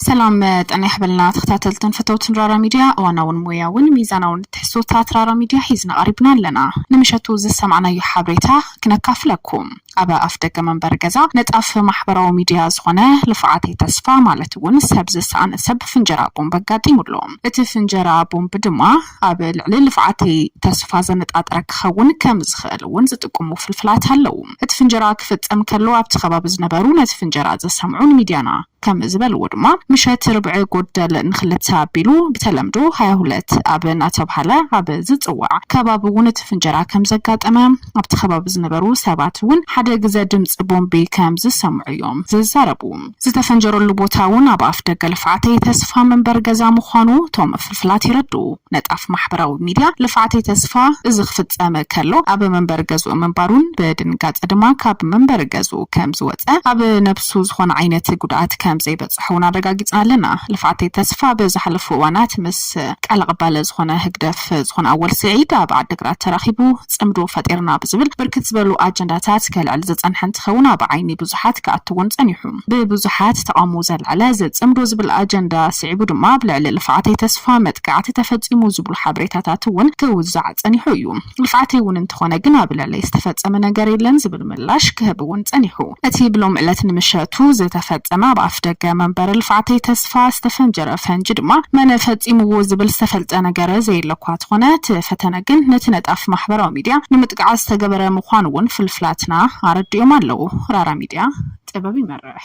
ሰላም ጠና ይሕበልና ተኸታተልትን ፈተውትን ራራ ሚድያ እዋናውን ሞያውን ሚዛናውን ትሕዝቶታት ራራ ሚድያ ሒዝና ቀሪብና ኣለና ንምሸቱ ዝሰማዕናዮ ሓበሬታ ክነካፍለኩም ኣብ ኣፍደገ መንበሪ ገዛ ንጣፍ ማሕበራዊ ሚድያ ዝኾነ ልፍዓተይ ተስፋ ማለት እውን ሰብ ዝሰኣነ ሰብ ፍንጀራ ቦምብ ኣጋጢሙ ኣሎ። እቲ ፍንጀራ ቦምብ ድማ ኣብ ልዕሊ ልፍዓተይ ተስፋ ዘነጣጠረ ክኸውን ከም ዝኽእል እውን ዝጥቁሙ ፍልፍላት ኣለው። እቲ ፍንጀራ ክፍፀም ከሎ ኣብቲ ከባቢ ዝነበሩ ነቲ ፍንጀራ ዝሰምዑ ንሚድያና። ከም ዝበልዎ ድማ ምሸት ርብዒ ጉደል ንክልተ ኣቢሉ ብተለምዶ ሃያ ሁለት ኣብ እናተብሃለ ኣብ ዝፅዋዕ ከባቢ እውን እቲ ፍንጀራ ከም ዘጋጠመ ኣብቲ ከባቢ ዝነበሩ ሰባት እውን ሓደ ግዘ ድምፂ ቦምቢ ከም ዝሰምዑ እዮም ዝዛረቡ። ዝተፈንጀረሉ ቦታ እውን ኣብ ኣፍ ደገ ልፍዓተይ ተስፋ መንበሪ ገዛ ምዃኑ እቶም ፍልፍላት የረድኡ። ነጣፍ ማሕበራዊ ሚድያ ልፍዓተይ ተስፋ እዚ ክፍፀም ከሎ ኣብ መንበሪ ገዝኡ ምንባሩን ብድንጋፀ ድማ ካብ መንበሪ ገዝኡ ከም ዝወፀ ኣብ ንሱ ዝኾነ ዓይነት ጉድኣት ከም ዘይበፀሖ እውን ኣረጋጊፅና ኣለና። ልፍዓተይ ተስፋ ብዝሓለፉ እዋናት ምስ ቃል ኣቐባሊ ዝኾነ ህግደፍ ዝኾነ ኣወል ስዒድ ኣብ ዓዲግራት ተራኺቡ ፅምዶ ፈጢርና ብዝብል ብርክት ዝበሉ ኣጀንዳታት ከልዕል ዝፀንሐ እንትኸውን ኣብ ዓይኒ ብዙሓት ክኣቱ እውን ፀኒሑ ብብዙሓት ተቓውሞ ዘልዓለ እዚ ፅምዶ ዝብል ኣጀንዳ ስዒቡ ድማ ኣብ ልዕሊ ልፍዓተይ ተስፋ መጥቃዕቲ ተፈፂሙ ዝብሉ ሓበሬታታት እውን ክውዛዕ ፀኒሑ እዩ። ንፍዓተይ እውን እንተኾነ ግን ኣብ ልዕለይ ዝተፈፀመ ነገር የለን ዝብል ምላሽ ክህብ እውን ፀኒሑ። እቲ ብሎሚ ዕለት ንምሸቱ ዝተፈፀመ ኣብ ኣፍደገ መንበሪ ልፍዓተይ ተስፋ ዝተፈንጀረ ፈንጂ ድማ መን ፈፂምዎ ዝብል ዝተፈልጠ ነገር ዘየለ እኳ ተኾነ ተፈተነ ግን ነቲ ነጣፊ ማሕበራዊ ሚድያ ንምጥቃዕ ዝተገበረ ምኳኑ እውን ፍልፍላትና ኣረዲኦም ኣለው። ራራ ሚድያ ጥበብ ይመርሕ!